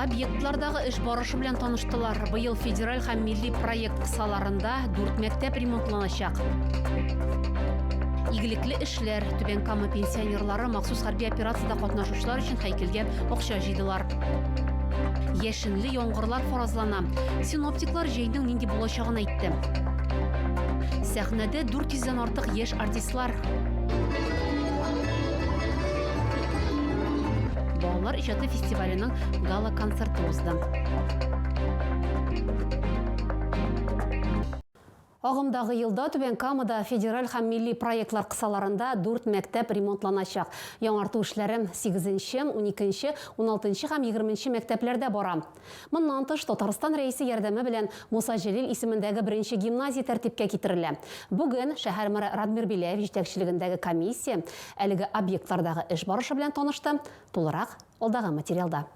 Объектлардагы эш барышы белән таныштылар. Быел федераль һәм милли проект кысаларында дүрт мәктәп ремонтланачак. Игелекле эшләр, Түбән Кама пенсионерлары махсус хәрби операциядә катнашучылар өчен һәйкәлгә акча җыйдылар. Яшенле яңгырлар фаразлана. Синоптиклар җәйнең нинди булачагын әйтте. Сәхнәдә 400 дән артык яшь Артистлар. Балалар иҗаты фестиваленең гала концерты узды. Агымдагы елда Түбән Камада федераль һәм милли проектлар кысаларында дүрт мәктәп ремонтланачак. Яңарту эшләре сигезенче, уникенче, уналтынчы һәм егерменче мәктәпләрдә бара. Моннан тыш, Татарстан Рәисе ярдәме белән Муса Җәлил исемендәге беренче гимназия тәртипкә китерелә. Бүген шәһәр мэры Радмир Беляев җитәкчелегендәге комиссия әлеге объектлардагы эш барышы белән танышты, тулырак, алдагы материалда.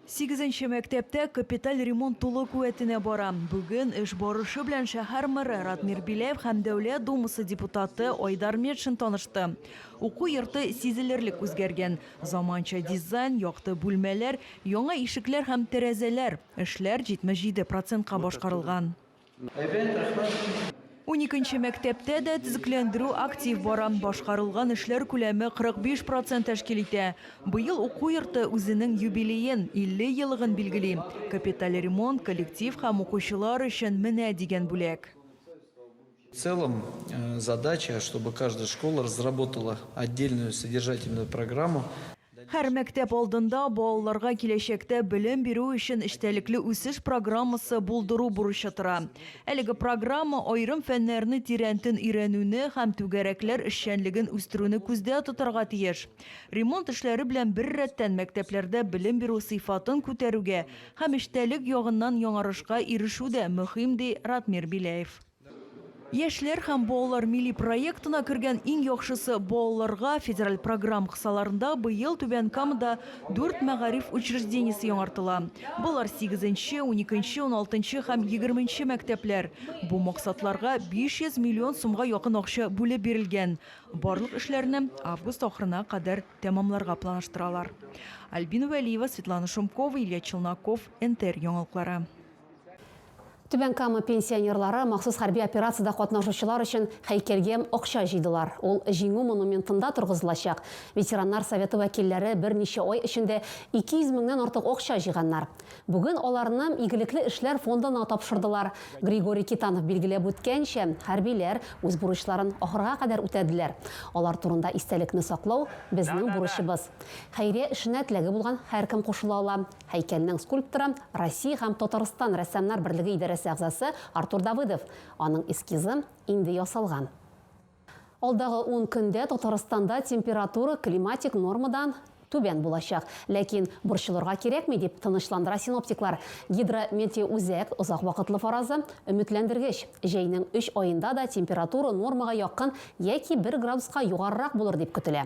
Сигезенче мәктәптә капиталь ремонт тулы куәтенә бара. Бүген эш барышы белән шәһәр мэры Радмир Беляев һәм Дәүләт Думасы депутаты Айдар Метшин танышты. Уку йорты сизелерлек үзгәргән. Заманча дизайн, якты бүлмәләр, яңа ишекләр һәм тәрәзәләр. Эшләр 77 процентка башкарылган. Әйбәт, рәхмәт. Уникенче мәктәптә дә төзекләндерү актив бара. Башкарылган эшләр күләме 45 процент тәшкил итә. Быел уку йорты үзенең юбилеен, 50 елыгын билгели. Капиталь ремонт, коллектив һәм укучылар өчен менә дигән бүләк. В целом задача, чтобы каждая школа разработала отдельную содержательную программу. Һәр мәктәп алдында балаларга киләчәктә белем бирү өчен эчтәлекле үсеш программасы булдыру бурычы тора. Әлеге программа аерым фәннәрне тирәнтен өйрәнүне һәм түгәрәкләр эшчәнлеген үстерүне күздә тотарга тиеш. Ремонт эшләре белән беррәттән мәктәпләрдә белем бирү сыйфатын күтәрүгә һәм эчтәлек ягыннан яңарышка ирешү дә мөһим, ди Ратмир Беляев. Яшьләр һәм балалар милли проектына кергән иң яхшысы балаларга федераль програм кысаларында быел Түбән Камада дүрт мәгариф учреждениесе яңартыла. Болар сигезенче, уникенче, уналтынчы һәм егерменче мәктәпләр. Бу максатларга 500 миллион сумга якын акча бүлеп бирелгән. Барлык эшләрне август ахырына кадәр тәмамларга планаштыралар. Альбина Вәлиева, Светлана Шумкова, Илья Челноков, НТР яңалыклары. Түбән Кама пенсионерлары махсус хәрби операциядә катнашучылар өчен һәйкәлгә акча җыйдылар. Ул Җиңү монументында торгызылачак. Ветераннар советы вәкилләре берничә ай эчендә 200 меңнән артык акча җыйганнар. Бүген аларны Игелекле эшләр фондына тапшырдылар. Григорий Китанов билгеләп үткәнчә, хәрбиләр үз бурычларын ахырга кадәр үтәделәр. Алар турында истәлекне саклау, безнең бурычыбыз. Хәйрия эшенә теләге булган һәркем кушыла ала. Һәйкәлнең скульпторы, Россия һәм Татарстан рәссамнар берлеге идарәсе әгъзасы Артур Давыдов. Аның эскизы инде ясалган. Алдагы ун көндә Татарстанда температура климатик нормадан түбән булачак. Ләкин борчылырга кирәкми, дип тынычландыра синоптиклар. Гидрометеоүзәк озак вакытлы фаразы өметләндергеч. Җәйнең өч аенда да температура нормага якын яки бер градуска югарырак булыр дип көтелә.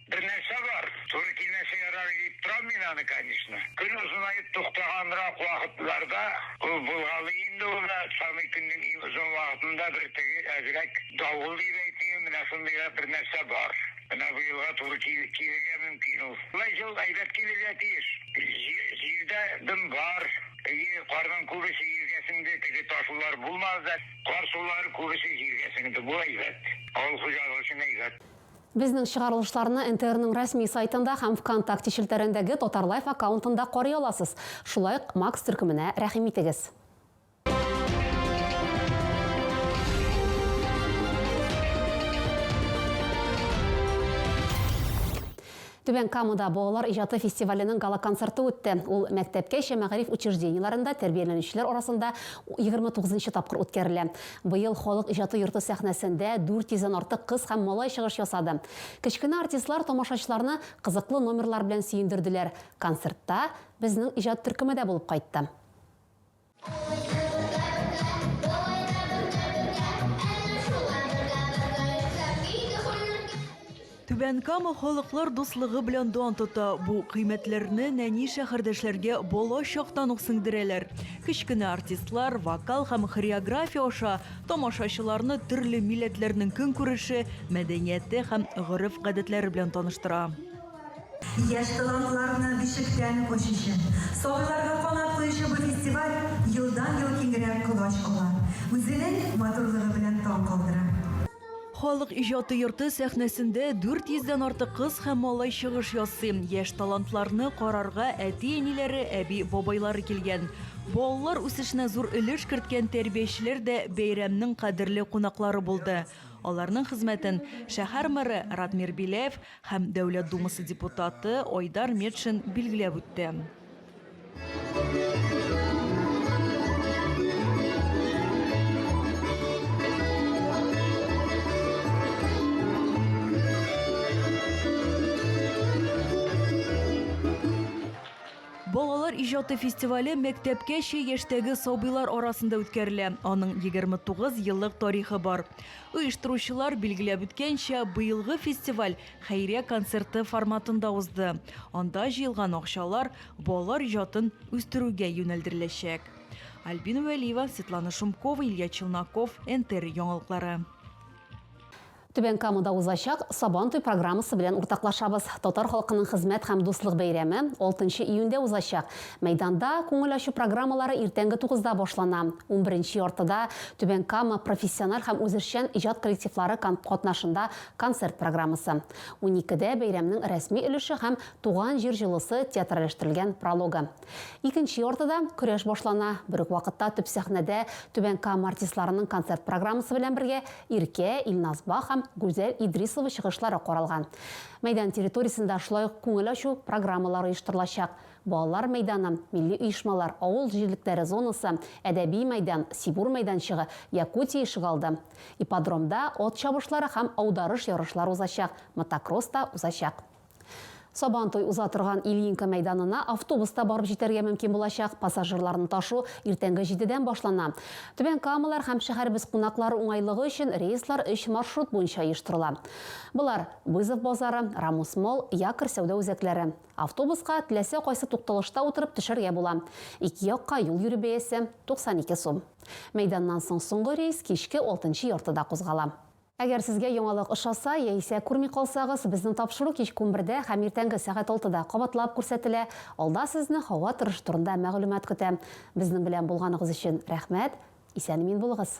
Бер нәрсә бар, туры килмәсә ярар иде дип торам мин аны, конечно. Көн озынаеп туктаганрак вакытларда ул булгалый инде ул да, самый көннең иң озын вакытында бер теге әзрәк давыл дип әйтмим, менә шундый да бер нәрсә бар. Менә бу елга туры килергә мөмкин ул. Болай җыл әйбәт килергә тиеш. Җил дә дым бар. Әйе, карның күбесе җиргә сеңде, теге ташулар булмады да. Кар сулары күбесе җиргә сеңде, бу әйбәт. Авыл хуҗалыгы өчен әйбәт. Безнең чыгарылышларны НТРның рәсми сайтында һәм ВКонтакте челтәрендәге Татарлайф аккаунтында карый аласыз. Шулай ук Макс төркеменә рәхим итегез. Түбән Камада балалар иҗаты фестиваленең гала-концерты үтте. Ул мәктәпкәчә мәгариф учреждениеләрендә тәрбияләнүчеләр арасында егерме тугызынчы тапкыр үткәрелә. Быел Халык иҗаты йорты сәхнәсендә 400 дән артык кыз һәм малай чыгыш ясады. Кечкенә артистлар тамашачыларны кызыклы номерлар белән сөендерделәр. Концертта безнең иҗат төркеме дә булып кайтты. Түбән Кама халыклар дуслыгы белән дан тота. Бу кыйммәтләрне нәни шәһәрдәшләргә бала чактан ук сеңдерәләр. Кечкенә артистлар вокал һәм хореография аша тамашачыларны төрле милләтләрнең көнкүреше, мәдәнияте һәм гореф-гадәтләре белән таныштыра. Яшь талантларны бишектән ачучы, сабыйларга канат куючы бу фестиваль елдан-ел киңрәк колач ала, үзенең матурлыгы белән таң калдыра. Халык иҗаты йорты сәхнәсендә 400 дән артык кыз һәм малай чыгыш ясый. Яшь талантларны карарга әти-әниләре, әби-бабайлары килгән. Балалар үсешенә зур өлеш керткән тәрбиячеләр дә бәйрәмнең кадерле кунаклары булды. Аларның хезмәтен шәһәр мэры Радмир Биләев, Һәм Дәүләт Думасы депутаты Айдар Метшин билгеләп үтте. Балалар иҗаты фестивале мәктәпкәчә яшьтәге сабыйлар арасында үткәрелә. Аның 29 еллык тарихы бар. Оештыручылар билгеләп үткәнчә, быелгы фестиваль хәйрия концерты форматында узды. Анда җыелган акчалар балалар иҗатын үстерүгә юнәлдереләчәк. Альбина Вәлиева, Светлана Шумкова, Илья Челноков, НТР яңалыклары. Түбән Камада узачак Сабан туй программасы белән уртаклашабыз. Татар халкының хезмәт һәм дуслык бәйрәме 6 нчы июньдә узачак. Мәйданда күңел ачу программалары иртәнге тугызда башлана. Унберенче яртыда Түбән Кама профессиональ һәм үзешчән иҗат коллективлары кан катнашында концерт программасы. Уникедә бәйрәмнең рәсми өлеше һәм Туган җир җылысы театральләштерелгән прологы. Икенче яртыда көрәш башлана. Бер үк вакытта төп сәхнәдә Түбән Кама артистларының концерт программасы белән бергә Иркә, Илназ Бах һәм Гүзәл Идрисова чыгышлары каралган. Мәйдан территориясендә шулай ук күңел ачу программалары оештырылачак. Балалар мәйданы, милли оешмалар, авыл җирлекләре зонасы, әдәби мәйдан, Сибур мәйданчыгы, Якутия ишегалды. Ипподромда ат чабышлары һәм аударыш ярышлар узачак, мотокросс та узачак. Сабантуй уза торган Ильинка мәйданына автобуста барып җитәргә мөмкин булачак, пассажирларны ташу иртәнге җидедән башлана. Түбән Камалар һәм шәһәребез кунаклары уңайлыгы өчен рейслар өч маршрут буенча оештырыла. Болар, Вызов базары, Рамус-молл, Якорь сәүдә үзәкләре. Автобуска теләсә кайсы тукталышта утырып төшәргә була. Ике якка юл йөрү бәясе, 92 сум. Мәйданнан соң соңгы рейс кичке алтынчы яртыда кузгала. Әгәр сезгә яңалык ошаса, яисә күрми калсагыз, безнең тапшыру кичке унбердә һәм иртәнге сәгать алтыда кабатлап күрсәтелә, алда сезне һава торышы турында мәгълүмат көтә. Безнең белән булганыгыз өчен рәхмәт! Исән-имин булыгыз!